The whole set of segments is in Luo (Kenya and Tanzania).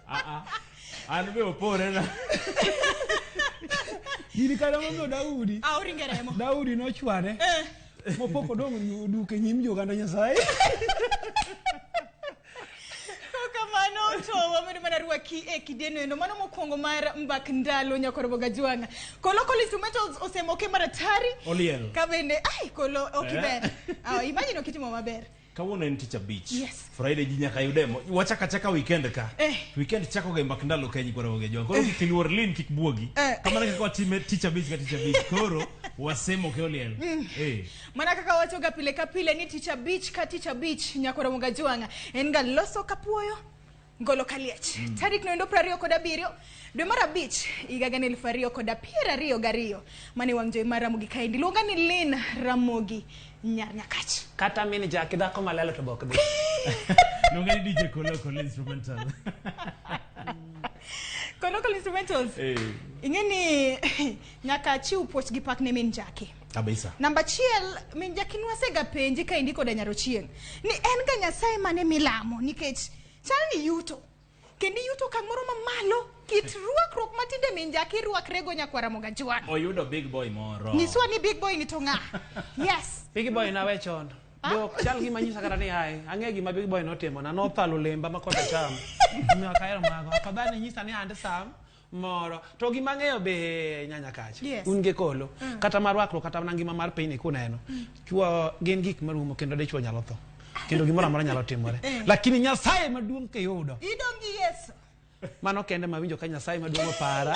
Ah, ah. An be opore na. Gini kare momiyo Daudi. Ah, oringe remo. Daudi nochware. Eh. Mopok odong' duke nyim joganda Nyasaye. ki e kideno eno mano mokwongo mar mbak ndalo nyakorobo gajwang'a kolo collins metals osemoke maratari oliel ka bende ai kolo ok eh. ber ah, imagine okitimo maber Kawuono en tich abich. Yes. Friday ji nyaka yude mo. Wachaka chaka weekend ka. Eh. Weekend chako ga mbak ndalo kenyi kwa roge jwa. Koro kik luor lin kik buogi. Eh. Kama na kwa time tich abich ka tich abich. Koro wasemo ke oliel. Mm. Eh. Mana kaka wacho ga pile ka pile ni tich abich ka tich abich nyakora mga jwanga. En ga loso kapuoyo. Ngolo Kaliech mm. tarik noendo prariyo kod abiriyo dwe mar abich higa gana elfu ariyo kod piero ariyo gariyo mane wang' jowi mar Ramogi kaendi luonga ni Lin Ramogi nyar Nyakach kata min jaki dhako malalo to bok dhi luonga ni DJ Kolo Kolo Instrumental Kolo Kolo Instrumentals hey. ing'e ni nyaka chiw puoch gi pak ne min jaki kabisa namba achiel min jakin wasega penji ka indiko da nyaro chieng ni en ga nyasaye mane milamo nikech chal ni yuto kendo yuto kamoro mamalo kit ruakruok matinde min jaki ruakrego nyakwara moga jwan oyudo big boy moro nyiswa ni big boy ni to ng'a yes big boy nawe chon dok chal gima nyisa kata ni ae ang'e gima big boy notimona nothalo lemba ma kosechamo omiyo akahero mago afadhali nyisa ni and sam moro to gima ng'eyo be nyanya kacha yes. un gi kolo mm. kata mar wakruok kata mana ngima mar pinyni kuneno mm. chwo gin gik marumo kendo dichwo nyalo tho kendo gimoro amora nyalo timore eh. lakini nyasaye maduong' kiyudo idongi yesu mano kende mawinjo ka nyasaye maduong' opara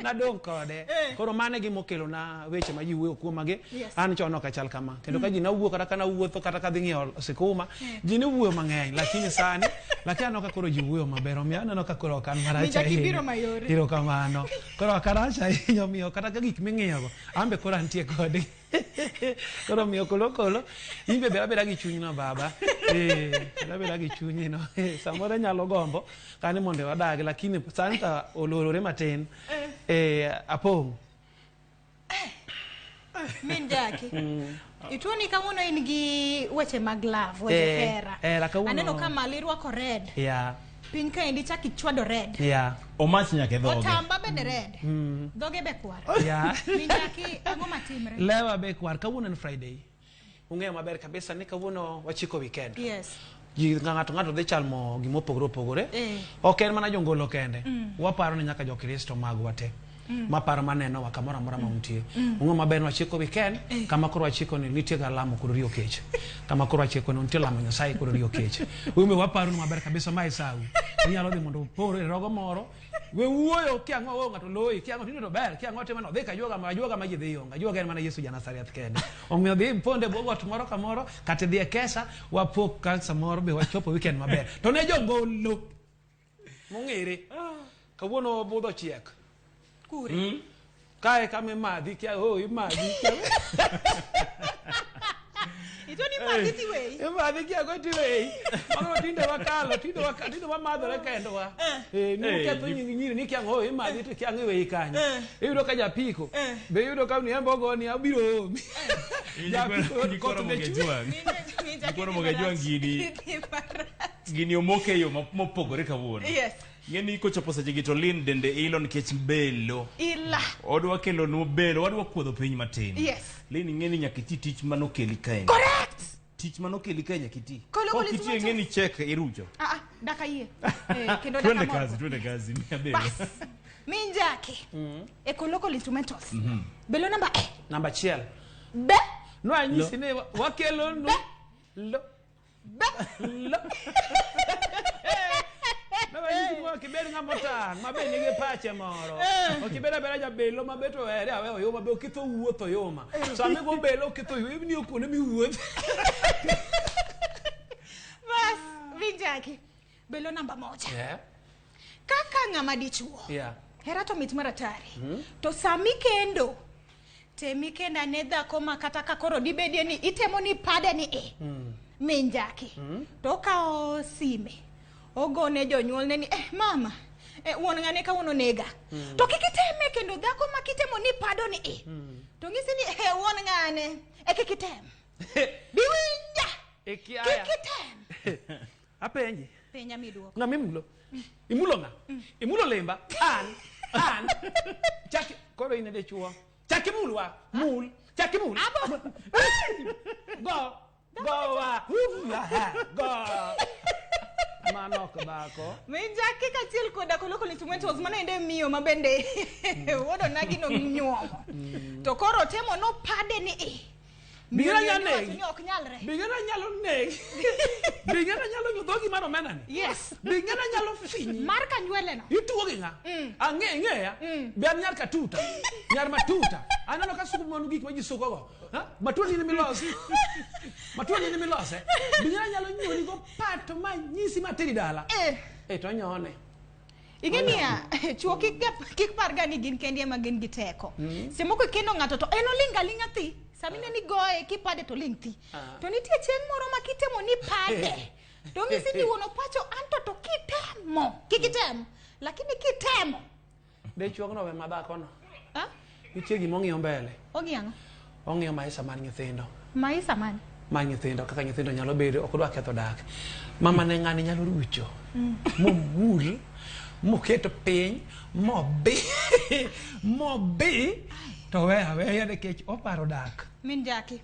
nadong kode eh. koro mano e gima okelona weche ma ji wuoyo kuomagi yes. an chon ok achal kama kendo mm. ka ji nawuo kata ka nawuotho kata ka dhi ng'iewo sikuma eh. ji ne wuoyo mang'eny lakini sani lakini aneno ka koro ji wuoyo maber omiyo aneno ka koro ok an marach ahinya kamano koro ok arach ahinya omiyo kata ka gik ming'iyogo an be koro antie kodgi koro omiyo kolokolo in be beda beda gi chunyno baba eh, beda beda gi chunyino eh, samoro nyalo gombo kani mondo wadag lakini santa olorore matin eh, apong' min jaki mm. ituo ni kawuono in gi weche mag love weche hera aneno ka mali irwako red yeah. piny kaendi chak ichwado red yeah. omach nyaka e dhoge otamba bende red mm. dhoge be kwar yeah. minjaki ang'o matimre lewa be kwar kawuono en friday ung'eyo maber kabisa ni kawuono wachiko weekend yes ji ng'ato ng'ato dhi chalmo gima opogore opogore eh. ok en mana jongolo kende mm. waparo ni nyaka jokristo magwa te Mm. ma paro ma nenowa kamoro amora ma mm. untie mm. ung'o maber ni wachiko weekend eh. kama koro wachiko ni nitie ga lamo kod riyo kech kama koro wachiko ni nitie lamo nyasaye kod riyo kech ume waparo ni maber kabisa ma isawi inyalo dhi mondo upor e rogo moro we wuoyo ki ang'o wo ng'ato loyi ki ang'o tinde to ber ki ang'o timo no dhi ka juoga ma juoga ma ji dhi yonga juoga en mana Yesu ja Nazareth kende omiyo dhi ponde bwo got moro ka moro kata dhi e kesa wapok ka samoro be wachopo weekend maber to ne jogolo mong'ere kawuono budho chiek kure Mm. kae kama imadhi kia oh imadhi kia ito ni magi ti wei imadhi kia go ti wei mano tinde wakalo tinde wakalo tinde wamadhore kendo wa eh ni Eh, ketho ni- nying nyiri ni kia oh imadhi to kia ng'ewe ikanyo Eh. iyudo ka japiko Eh. be iyudo ka ni embo go ni abiro omi Hii ni japiko koro- ni koro kot mgejua. Ninja- ninja Ni koro kiti mgejua barach. ngidi. Kiti barach. Gini omoke e yo ma- mopogore kawuono. Yes. Ng'eni kochopo sechegi to Lynn dende ilo nikech belo. Ila. Odwa kelonwa belo, wadwa kuodho piny matin. Yes. Lynn ing'eni nyaka iti tich mane okeli kaeni. Correct. Tich mane okeli kae nyaka iti. Kolo Kaok police iti moja. ing'eni chek irucho. Ah, ah, daka yie. Eh, kendo Twende daka kazi, moro. twende kazi. Mia belo. Bas. Minjaki. E ko local instrumentals. Mhm. Belo namba eh. Namba achiel. Be. Nwanyisi ni wa- wakelonu. Lo. kibed ng'ama otang' mabe nigi pache moro eh. okibed abeda jabelo mabe to ere awe oyuma be okitho wuoth oyuma eh. sami go belo okitho oyuma ibni okuonde miwuoth bas vinjaki Belo namba moja. Yeah. Kaka ng'ama dichuo. Yeah. Hera to mit maratari. Mm -hmm. To sami kendo. Temi kenda ne dhako ma kata ka koro dibedie ni itemo ni pade ni e. Mm. Min jaki. Mm -hmm. To kawo sime. Ogone jonyuol ne ni eh mama. Eh, wuon ng'ane ka wuon onega. Mm. To kik iteme kendo dhako ma kitemo ni pado ni e. Mm. To ng'isi ni eh wuon ng'ane. E kik item. Biwinja. E kiaya. Kik item. Apenji. Penja mi duoko. Ng'ama imulo? Imulo ng'a? Imulo lemba? An. An. Chaki. Koro in ede chuo. Chaki mulwa. Mul. Chaki mul. Abo. Go. Go wa. Hula. Go. Mano ok dhako. Minja kika chiel koda koloko ni tumwe tos mana ende miyo mabende. Wodo nagi no nyuomo. To koro temo no pade ni eh. Bi ng'e ni anegi. Ni ok nyalre. Bi ng'e ni anyalo negi. Bi ng'e ni anyalo nyo dhogi mar omena ni. Yes. Bi ng'e ni anyalo finyi. Mar ka nywele no. Ituo gi ng'a? Mm. Ang'e ng'eya. Mm. Be an nyar katuta. Nyar matuta. Aneno ka suko manu gik ma ji suko go. Ha? Matuo ni ni milos. Matuo ni ni milos. Eh? Bi ng'e ni anyalo nyoni go pato ma nyisi ma teri dala. Eh. Eh to nyone. ing'e niya chuo kik ga- kik parga ni gin kendi ema gin gi teko semoko ikendo ng'ato to en oling' aling'a thi sama ine ni goye kipade to oling' thi Ah. to nitie chieng' moro ma kitemo ni pade to ng'isi ni wuon opacho anto to kitemo kik item lakini kitemo Be chuogno we madhakono. ah? Nitie gima ong'iyo mbele. Ong'iyo ang'o? Ong'iyo maisha mar nyithindo. Maisha mane? Mar nyithindo kaka nyithindo nyalo bedo ok odwa ketho dak. Mama ne ng'ani nyalo rucho. Mm. Momul moketo piny mobi mobi to we aweya nikech oparo dak. Min jaki.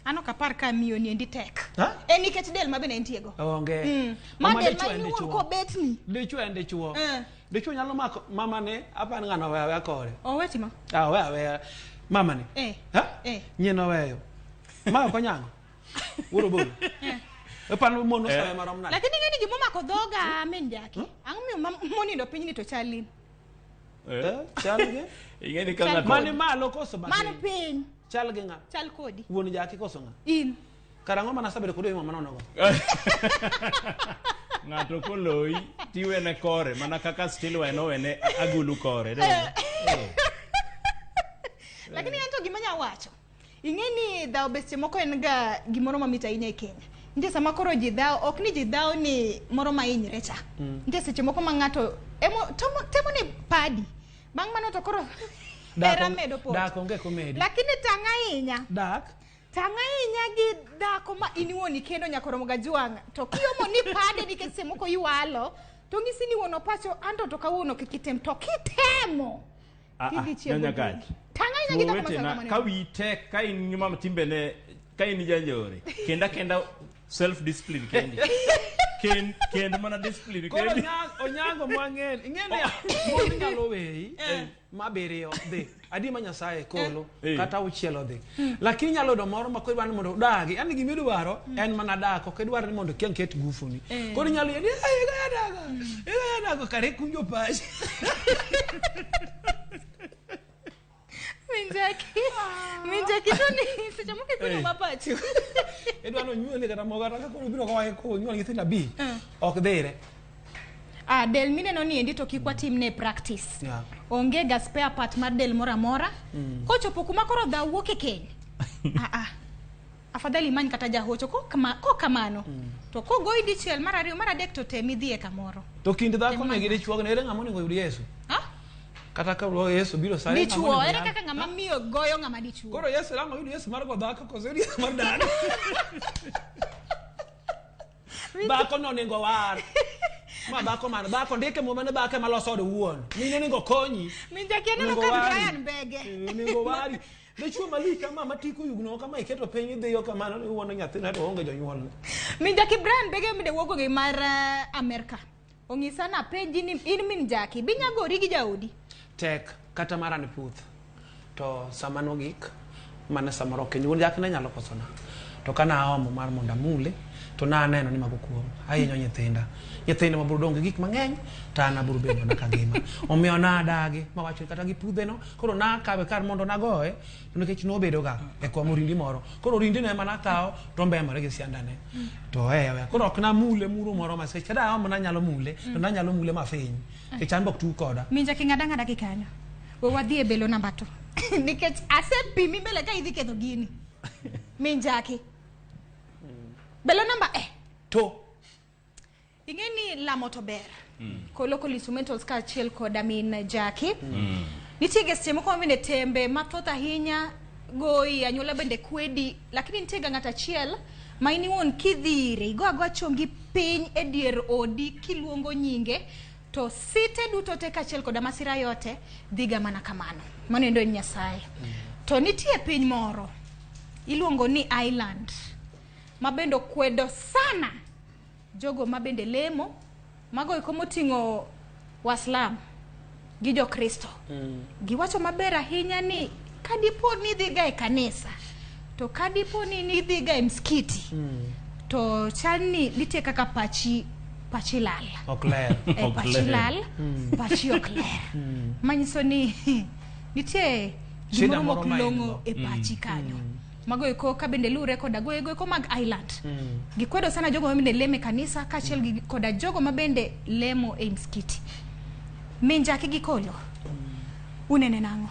Ano kapar ka miyo ni endi tek. Ha? En nikech del ma bende entiego. Onge. Mm. Ma Mama del ma dichwo en in iwuon dichwo. kobetni. Dichwo en dichwo. Eh. Dichwo nyalo mako mama ne apani ng'ano owe aweya kore. Owe timo. Ah, owe aweya mama ne. Eh. Ha? Eh. Nyien oweyo. Ma ok onyango. Wuoro bolo. Epano mon osawe marom nade? Lakini ng'eni gimomako dhoga min jaki. Ang'o miyo ma- monindo pinyni to chalin? Eh? Eh, chal gi ing'e ni ka Chal- ng'ato mani malo koso man mapiny piny chal gi ng'a chal kodi wuon jaki koso ng'a in karang'o mana sabedo kodi mama nonogo ng'ato koloyi tiwene kore mana kaka stilway nowene agulu kore lakini en to gima nya wacho ing'e ni dhawo be seche moko en ga gimoro mamit ahinya e kenya nitie sama koro ji dhawo ok ni ji dhawo ni moro ma hinyre cha Mm. nitie seche moko ma ng'ato emo- tomo- temo ni padi bang' mano to koro Dak hera onge- medo pot dak onge komedi. lakini tang' ahinya dak tang' ahinya gi dhako ma in iwuon ikendo nyaka oromo ga jwang' to kiomo ni pade nikech seche moko iwalo to ng'isi ni wuon opacho anto to kawuono kik item to kitemo Ah, ah, kidhi chiembo nyanya gari. chumbi. Tang' ahinya gi dhako ma Wetena, sanga ka maneno. wiyi tek ka in nyuma timbene ka in janjore kenda kenda self discipline kendi kend kend mana discipline Koro kendi Onyango- onyango mwang'en ing'eni mon nyalo weyi mabiriyo dhi adi ma nyasaye kolo Eh. kata auchiel odhi Hmm. Lakini nyalo yudo moro ma kodwaro ni mondo udagi. Yaani gima idwaro hmm. en mana dak, ok idwar ni mondo kiang ket gufuni. Eh. Koro nyalo yedi, "Ai, ga daga." Ga daga kare kunjo pachi. Minjaki. Ah. Minjaki to ni seche moko kunjo eh. mapachi. Edwa no nyuole kata moga kata koro biro kwa ko nyuole nyithindo abi. Eh. Ok dhire. Ah, del mineno ni endi to kik watim ne practice Yeah. onge ga spare part mar del moro amora mm. kochopo kuma koro dha wuok e keny ah, ah. afadhali imany kata jahocho ko kama- ko kamano mm. to kogoyi dichiel mar ariyo mar adek to tem idhiye kamoro to kind dhako ne gi dichuo ne ere ng'ama onego oyud yesu ah? kata ka lo yesu biro sa ere ng'ama dichuo onego ere oyud? kaka ng'ama miyo goyo ng'ama dichuo koro yesu ere ng'ama oyud yesu mar go dhako koso oyud yesu mar dala dhako no onego war ma dhako mano dhako ndike muma ne dhako ema loso od wuon mine onego konyi minjakia neno Onego ka wari. brian bege Eh, onego wari dichuo malik kama matiko yugno kama iketo piny idhiyo kamano ni wuono nyathina to onge jonyuolne minjaki brian bege mide wuogo gi mar eh, amerka Ong'isa na penji ni in min jaki binya gori gi jaodi. Tek kata mara ni puth. To sama nogik mane samoro ok nyuol jaki ne nyalo kosona. To kana aomo mar mondo amule to na aneno ni mago kuom ahinyo nyithinda. Nyithinda ma burdong gi gik mang'eny ta an aburu bedo na kangima. Omiyo na adagi mawacho kata gi pudhe no koro na akawe kar mondo nagoye nikech nobedoga e kom orindi moro koro orindino ema nakawo to mbemore gi siandane to ewe koro ok namule muro moro ma seche da aomo nanyalo mule to nanyalo mule mafiny nikech an bok tu koda minja king'ada ng'ada gi kanyo we wadhi e belo namba to nikech asepimi mbele ka idhi ketho gini minjaki belo namba eh to ing'e ni lamo to ber mm. ko local instrumentals ka achiel koda min jaki mm. nitie ga seche moko mabende tembe mathoth ahinya goyi anyuola bende kwedi lakini nitie ga ng'ato achiel ma in iwuon kidhire igo agoa chongi piny e dier odi kiluongo nyinge to site duto te kaachiel koda masira yote dhiga mana kamano mano endo en nyasaye mm. to nitie piny moro iluongo ni island ma bende okwedo sana jogo ma bende lemo mago eko moting'o waslam gi jokristo mm. giwacho maber ahinya ni ka dipo ni idhiga e kanisa to ka dipo ni nidhiga e mskiti mm. to chal ni nitie kaka pachi pachi lal ok ler e, pachi lal mm. pachi ok ler mm. manyiso ni nitie gimoro mok long'o e pachi mm. kanyo mm. magoeko ka bende luwre koda goyegoeko mag Ireland. Mm. Gikwedo sana jogo mabende lemo e kanisa kaachiel mm. koda jogo mabende lemo e msikiti. Minjaki gi kolo, mm. unene nang'o?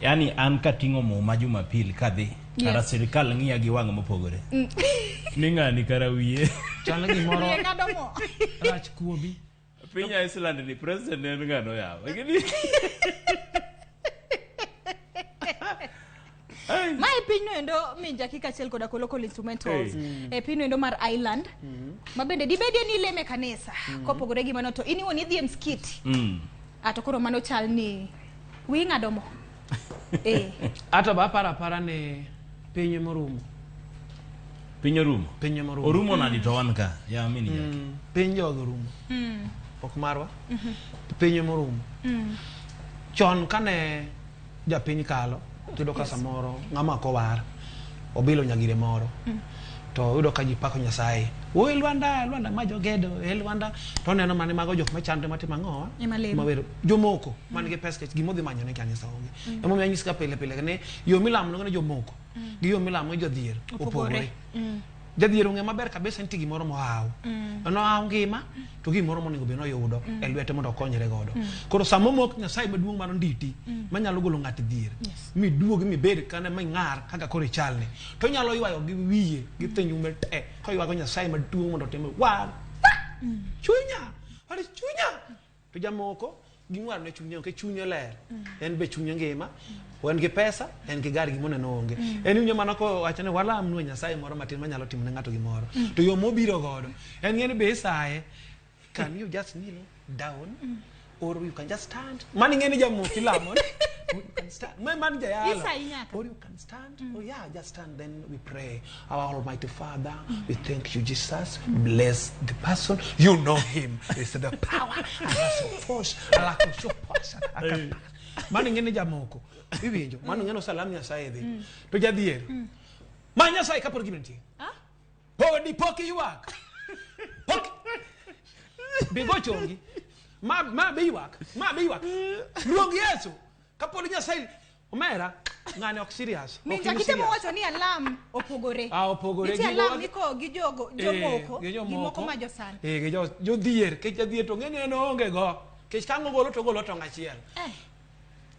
Yaani an kating'o muma Jumapil kadhi, yeah. kara sirikal ng'iya gi wang' mopogore. Mm. Ni ng'ani kara wiye. Chal gimoro. Rach kuobi. Piny Iceland ni president en ng'ano yawa. Gini- Ai. ma e pinyno endo min jaki kaachiel koda ko local instrumentals Hey. e pinyno endo mar island ma bende dibedie ni ileme kanisa kopogore gi mano to in iwuon idhi e mskiti Mm. ato koro mano chal ni wi ng'ado mo Eh. Ato ba para para ne pinyo morumo. Pinyo rumo. Pinyo morumo. Orumo na dito wan ka. Ya mini ya. Mm, pinyo orumo. Mm. Ok marwa. Mm -hmm. Pinyo morumo. Mm. Chon kane ja piny kalo. Tudo ka samoro. Ngama ko war. Obilo nyagire moro. Mm. to yudo ka ji pako nyasaye o e lwanda lwanda ma jogedo e lwanda to neno mane mago jok machando matimo ang'owa jomoko mm. man gi pes kech gimodhi manyo ne kanisa onge mm. emomiyo anyis ka pile pile ne yo milamo nogene jomoko mm. gi yo milamo gi jodhier opogore mm. jadhier ong'e maber kabisa nitie gimoro mohaw mm. nohaw ngima to gimoro monego bed noyudo mm. e lwete mondo okonyre godo mm. koro sama omok nyasaye maduong' mar nditi mm. manyalo golo ng'at dhier yes. miduog mibed kane ming'ar kaka koro ichalni to nyalo ywayo gi wiye gi mm. thinyume te koywago nyasaye maduong' mondo otime wa mm. chunya chunya to jamoko ging'war ne chunye onge chunye ler mm. en be chunye ngima mm. en gi pesa en gi gari gimone no onge mm. en winyo mana ko wacho ni wala amnu nyasaye moro matin manyalo timo ne ng'ato gimoro mm. to yo mobiro godo en ng'eni be isaye can you just kneel down mm. or you can just stand mani ng'eni jamoki lamo you can stand man jayalo or you Stand? Mm. Oh, yeah, just stand. Then we pray. Our Almighty Father, mm. we thank you, Jesus. Mm. Bless the person. You know him. It's the power. mano ing'e ni jamoko iwinjo mano ing'e nosalam nyasaye dhi mm. to jadhier mm. ma nyasaye kapod gino nitie podi pok iywak pok bigo chongi ma be iywak ma be iywak luong yesu kapod nyasaye Omera, ng'ani ok serious. ok Minja in kitemo serious. wacho ni alam opogore. Ah, opogore. Nitie Gigo alam wag- miko gi jogo Eh, jomoko gi gi jomoko. moko ma josan. Eh, gi jo- jodhier kech jadhier to ng'eni en oonge go kech ka ng'ogolo to ogolo tong' achiel Eh,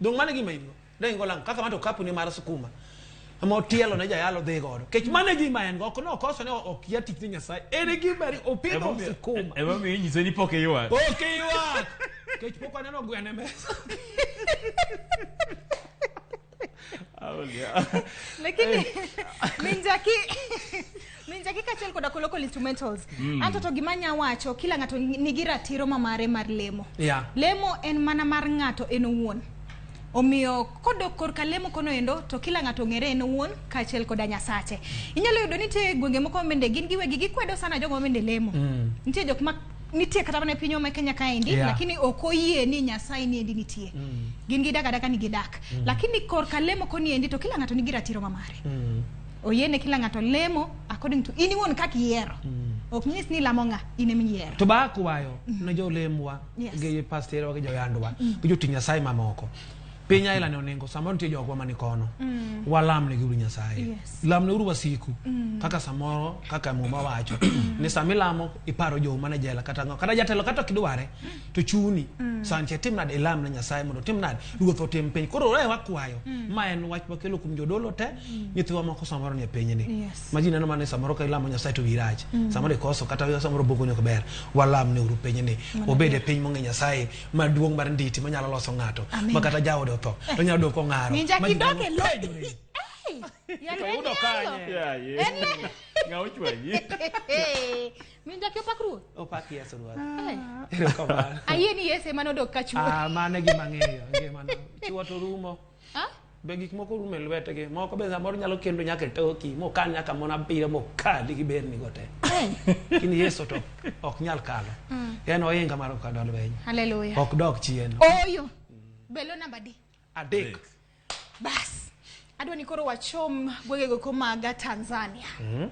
dong mane gima in go ne in go lang kaka manto kapuni mar sukuma ma otielo ne jayalo dhi godo kech mane gima en go ok ne okoso ne ok ya tich ni nyasaye en e gima ri- opidho sukuma Emomiyo inyise ni pok iywak. ok iywak Kech pok aneno gwen e mesa. lakini minjaki minjaki kaachiel koda ko local instrumentals mm. anto to gima nya wacho kila ng'ato nigi ratiro ma mare mar lemo yeah. lemo en mana mar ng'ato en owuon omiyo kodok korka lemo kono endo to kila ng'ato ong'ere en owuon kaachiel koda nyasache inyalo yudo nitie gwenge moko mende gin giwegi gikwedo sana jogo mende lemo mm. nitie jok ma nitie kata mana e pinywa ma Kenya kaendi yeah. lakini ok oyie ni Nyasaye ni endi nitie mm. gin gidak adaka ni gidak mm. lakini korka lemo koni endi to kila ng'ato nigi ratiro ma mare mm. oyiene kila ng'ato lemo according to in iwuon kaka iyiero mm. ok nyis ni lamo ng'a in emiyiero to baa kwayo mm. ne jolemwa yeah. gi pasterewa gi joyandwa mm. gi joti Nyasaye mamoko piny aila ne oningo samoro nitie jogwa mani kono mm. walamne gi uru nyasaye yes. lamne uru wasiku mm. kaka samoro kaka muma wacho mm. ni sama ilamo iparo jo mane jela kata ngo kata jatelo kata kidware mm. to chuni mm. sanche tim nade ilam ne nyasaye mondo tim nade ruoth otim piny koro ore wakwayo mm. ma en wach makelo kum jodolo te mm. nyithiwa moko samoro ni e piny ni yes. maji neno mane samoro ka ilamo nyasaye to wirach mm. samoro ikoso kata samoro boko nyok ber walamne uru piny ni obede piny mong'e nyasaye maduong' mar nditi manyalo loso ng'ato ma kata jaode otho to nyalo dok ong'aro Ninja kidogo e lo- Oyudo kanye? Ng'a ochwanyi? min jaki opak ruoth opak yesu ruoth Eh. erokamano ayie ni yesu ema nodok ka chuo Ah, mano e gima ang'eyo ngimano chuo to rumo Ah? be gik moko rume lwetgi moko be samoro nyalo kendo nyaka e toki mokan nyaka mon abiriyo mokali gi berni go te in yesu to ok nyal kalo mm. en ohinga mar okado lweny haleluya ok dok chien oyo belo namba di adek bas adwa ni koro wachom gwegego komaga tanzania mm -hmm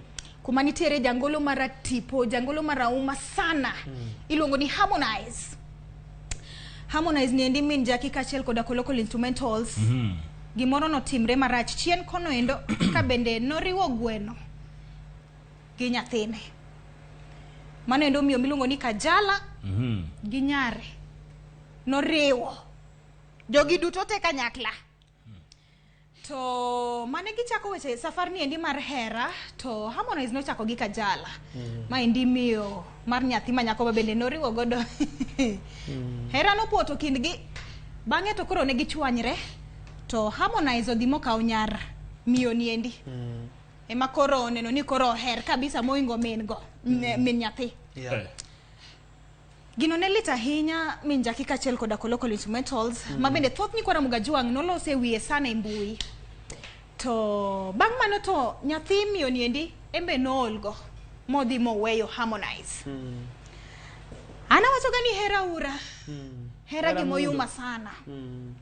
kuma nitiere jangolo maratipo jangolo marauma sana mm. iluongo ni harmonize Harmonize ni endi min Jackie kachiel koda Kolokol Instrumentals. Mm -hmm. Gimoro notimre marach chien kono endo ka bende noriwo gweno gi nyathine. Mano endo miyo miluongo ni Kajala mm -hmm. gi nyare noriwo jogi duto te kanyakla. To mane gichako weche safar ni endi mar hera to Harmonize nochako gi Kajala. Mm. Ma endi miyo mar nyathi ma nyako bende noriwo godo. mm. Hera nopoto kindgi. Bang'e to koro ne gichwanyre to Harmonize odhi mokawo nyar miyo ni endi. Mm. Ema koro oneno ni koro oher kabisa moingo min go. Mm. Min nyathi. Yeah. Eh. Gino ne lit ahinya mi njaki kaachiel koda Kolokol Instrumentals mm. ma bende thoth nyikwa Ramogi Ajwang' noloso e wiye sana e mbui. To bang' mano to nyathi miyo niendi embe noolgo modhi moweyo Harmonize. Mm. Ana wachoga ni hera ura. Mm. Hera, hera gimoyuma sana. Mm.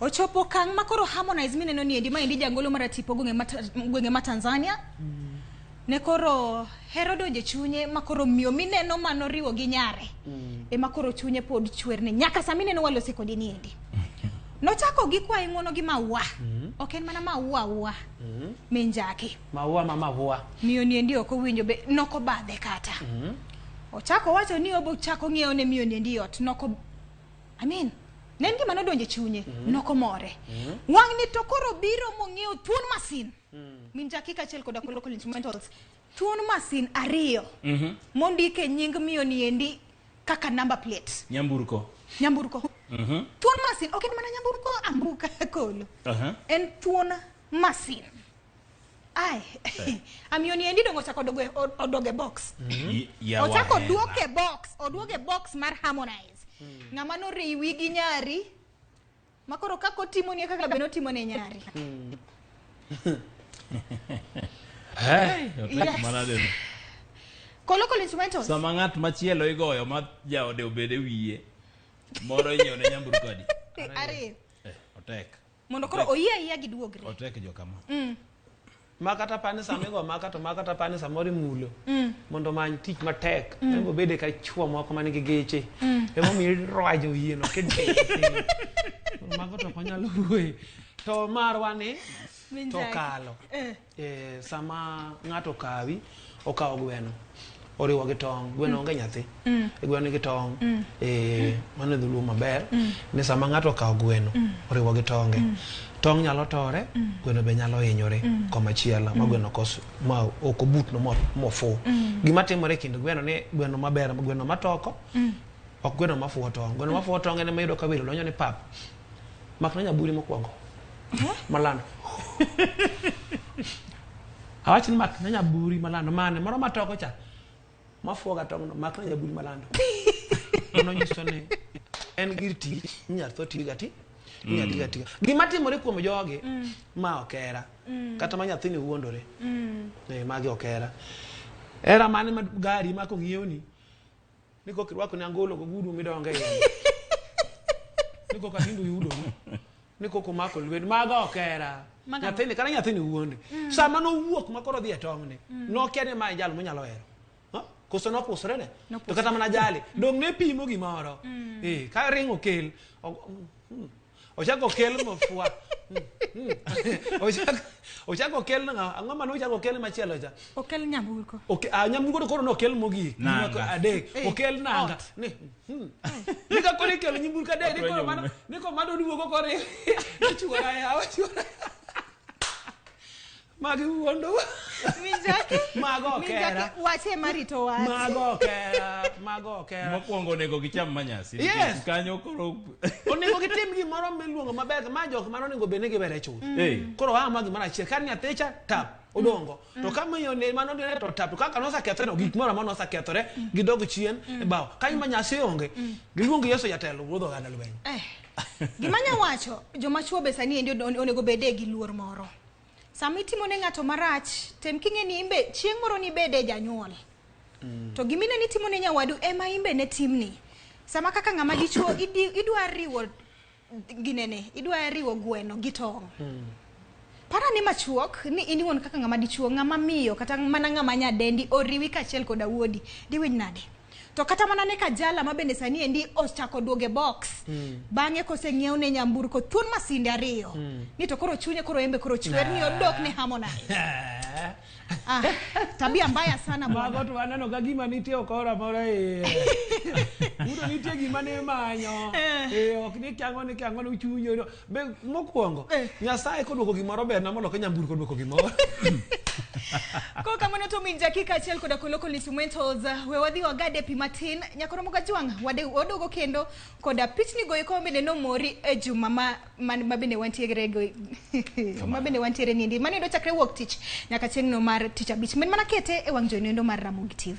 Ochopo kang' ma koro Harmonize mineno ni endi ma endi jangolo mar atipo gwenge ma gwenge ma Tanzania. Mm. Ne koro hero donje chunye ma koro miyo mineno ma noriwo gi nyare. Mm. E ma koro chunye pod chwer ne nyaka sa mineno walose kodi ni endi. Nochako gi kwa ing'ono gi maua. Mm. Ok en mana maua ua. Mm. Minjaki. Maua ma maua. Miyo ni endi ok owinjo be noko badhe kata. Mm. Ochako wacho ni obo chako ng'iewo ne miyo ni endi ot noko Amen. Ne en gima nodonjo e chunye, mm-hmm. nokomore. Mm-hmm. Wang'ni to koro biro mong'eyo thuon masin. Mm. Min jakika achiel koda kolo kolo instrumentals. Thuon masin ariyo. Mm-hmm. Mondik e nying miyo ni endi kaka number plate. Nyamburko. Nyamburko. Thuon masin, ok en mana nyamburko ambuka kolo. En thuon masin. Ai, eh. amioni endi dongo chako doge odoge box. Mm -hmm. yeah, ochako duoke box, oduoge box mar Harmonize. Mm. Ng'ama no riwi gi nyari. Makoro kako timo ni kaka beno timo ne nyari. Mm. hey, yes. Manadeno. Kolo kolo instrumentals. Sama ng'at machielo igoyo ma jaode obede wiye. Moro inyone nyamburko adi? Ari. Eh, otek. mondo koro oyie ayiya giduogre otek jo kama mm. makata pani sama igo maka to makata pani samoro imulo mm. mondo many tich matek mm. nego bede ka chuo moko man gi geche mm. emomiyo irwajo yieno mago to ok onyal wuoye to marwa ni to kalo eh. Eh, sama ng'ato kawi okawo gweno oriwo gi tong gweno mm. onge nyathi mm. e gweno nigi tong mm. e mano e dholuo maber ni sama ng'ato okawo gweno oriwo gi tonge tong nyalo tore gweno be nyalo hinyore komachielo ma gweno kos ma ok obutno mofu gima timore kind gweno ni gweno maber gweno matoko ok gweno mafuwo tong gweno mafuwo tong en ema yudo ka welo donjo ni pap mak na nyaburi mokwongo malando awach ni mak na nyaburi malando mane moro matoko cha mafuoga tong'no mak na nyaburi malando mano nyiso ni en gir tich inyal tho tiyo gati inyal tiyo gatiga gima timore kuom jogi ma okera kata ma nyathini wuondore Eh, magi okera era mane ma gari ma kong'iewni ni koka irwako ni angolo gogudu midonge iye ni koka nindo yudo ni koka omako lwet mago ok era Maga- nyathini kata nyathini wuonde sama nowuok ma koro dhi e tong'ni nokia ni mae jal monyalo hero Ha? koso nopusre ne to kata mana jali dong ne pimo gimoro Eh, ka ring okel o- mm, ochako okel mafua Ochako- ochako okel ng'a- ang'o mane ochako okel machielo cha okel nyamburko Oke- ah, nyamburko to koro nokel mogik Nanga. Nyako adek Eh, okel nanga ot. Ni, hmm. ni ka koro ikelo nyamburko adek ni koro mano ni koro mano duogo koro ichuora yawa chuora Magi wuondo. Mijaki. Mago ok Mijaki, hera. Wache marito wache. Mago ok hera. Mago ok hera. Mokwongo onego gicham manyasi. Yes. nikech Kanyo koro onego gitim gimoro miluongo maber ma jok mano onego bed ni gibere chuth Hey. koro aa ma gimoro achiel kar nyathi cha tap odongo to ka miyo ne mano ne to tap to kaka nosekethore gik moro amora nosekethore gidog chien e bao ka ima nyasi onge giluong yesu jatelo wuodho oganda lweny Eh, Gima nya wacho, joma chwo be sani endi on- onego bedie gi luor moro. sama itimo ne ng'ato marach tem king'e ni imbe chieng' moro nibede janyuol mm. to gimine ni timo ne nyawadu ema imbe ne timni sama kaka ng'ama dichuo idwa riwo ginene idwa riwo gweno gi tong' mm. para ni machuok ni in iwuon kaka ng'ama dichuo ng'ama miyo kata mana ng'ama nyadendi oriwi kaachiel koda wuodi diwinj nade to kata mana ne kajala ma bende sani endi ochako duoge box mm. bang'e koseng'iew ne nyamburko thuon masinde ariyo mm. ni to koro chunye koro embe koro chwer ni odok ne harmonize ah, tabia mbaya sana bwana tu anano ga gima nitie okora mora e udo nitie gima ne manyo e ok ni kyango ni kyango ni chunyo Be mokwongo Nyasaye kodwoko gimoro berna moloke nyamburko dwoko gimoro. Kwa kamano to min dakika achiel koda koloko instrumentals we wadhi wagade pi matin nyakoro moga jwang' wade wadogo kendo koda pichni goyo ko bende nomori e juma ma man- ma bende wantiere go ma bende wantiere nindi mano endo chakre wuok tich nyaka chieng'no mar tich abich min mana kete e wang' joyno endo mar Ramogi TV.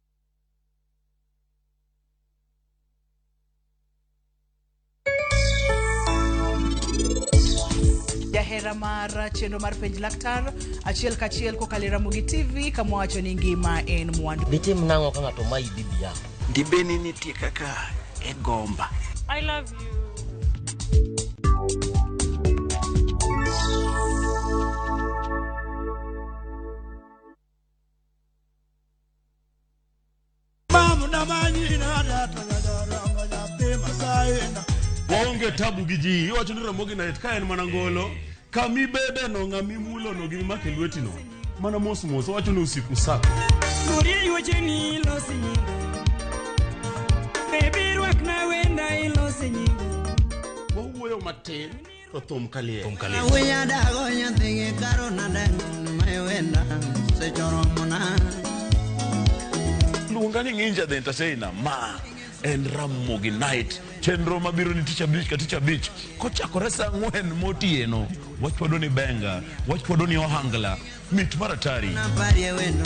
jahera mar chenro mar penj laktar achiel kachiel kokalo e ramogi tv kama wacho ni ngima en mwandu ditim nang'o ka ng'ato mayi bibi yako dibeni nitie kaka e gomba I love you. waonge tabu gi ji iwacho ni ramogi night ka en mana ngolo kama ibedeno ng'ama imulono gi mimako e lwetino mana mos mos owacho ni usiku sako wawuoyo matin To thum kalie. Thum kalie. Awiya dago nyathigi karo nadem mewenda sechoromona. Luonga ni ng'inja the entertainer ma en Ramogi Night. Chenro mabiro ni tich abich ka tich abich kochakore saa ang'wen motieno. Wachwado ni benga, wachwado ni ohangla, mit maratari. Naparie wendo